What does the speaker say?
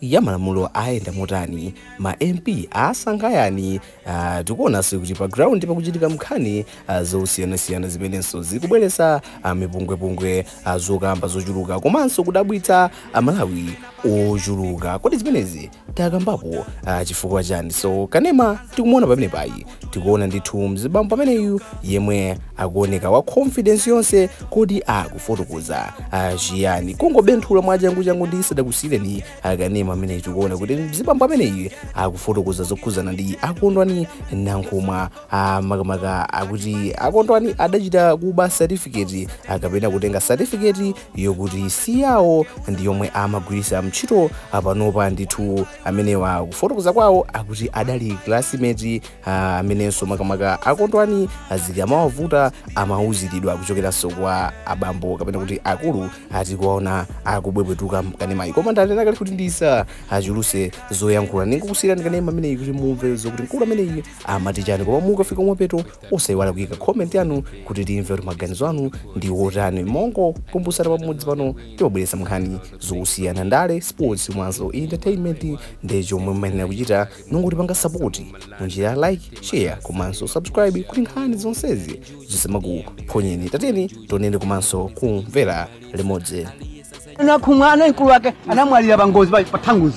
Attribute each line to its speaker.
Speaker 1: ya malamulo ayenda motani? Ma MP asankha yani? Aaa tikuonanso kuti pa ground pakuchitika nkhani ah, zosiyanasiyana zimenenso zikubweretsa ah, mipungwepungwe ah, zokamba zochuluka komanso kudabwitsa Amalawi ochuluka. Kodi zimenezi takambapo ah, chifukwa chani? So kanema tikumuona pamenepayi tikuona ndithu mzibambo pameneyu yemwe akuoneka wa confidence yonse kodi akufotokoza ah, chiyani kungobenthula mwachanguchangu ndisadakusiireni kanema amene tikuona kuti mzibambo ameneyu akufotokoza zokhuzana ndi a Kondwani Nankhumwa ah, makamaka akuti a Kondwani adachita kuba certificate ah, kapena kutenga certificate yokuti si yawo ndiyomwe amagwiritsa ntchito panopa ndithu amenewa kufotokoza kwawo akuti adali classmate ah, amenenso makamaka a Kondwani zikamawavuta amauziridwa kuchokeranso kwa abambo kapena kuti akulu a tikuwaona akubwebwetuka mkanemayi koma ndanena kale kuti ndisachuluse zoyankhula ndingokusiyirani kanema ameneyi kuti mumve zokuti mkulu ameneyi amati chani koma mukafika kumapeto osayiwala kuyika comment yanu kuti timve kuti maganizo anu ndi otani mongokumbusana pamudzi pano timabweresa nkhani zosiyana ndale sports komanso entertainment nde chomwe mumayenera kuchita n'kungotipanga sapoti munjira ya like share komanso subscribe kuti nkhani zonsezi zisamakuphonyeni tatiyeni tionere komanso kumvera limodzi Nankhumwa
Speaker 2: anali mkulu wake anamwalira pa ngozi pa- pa Thunduzi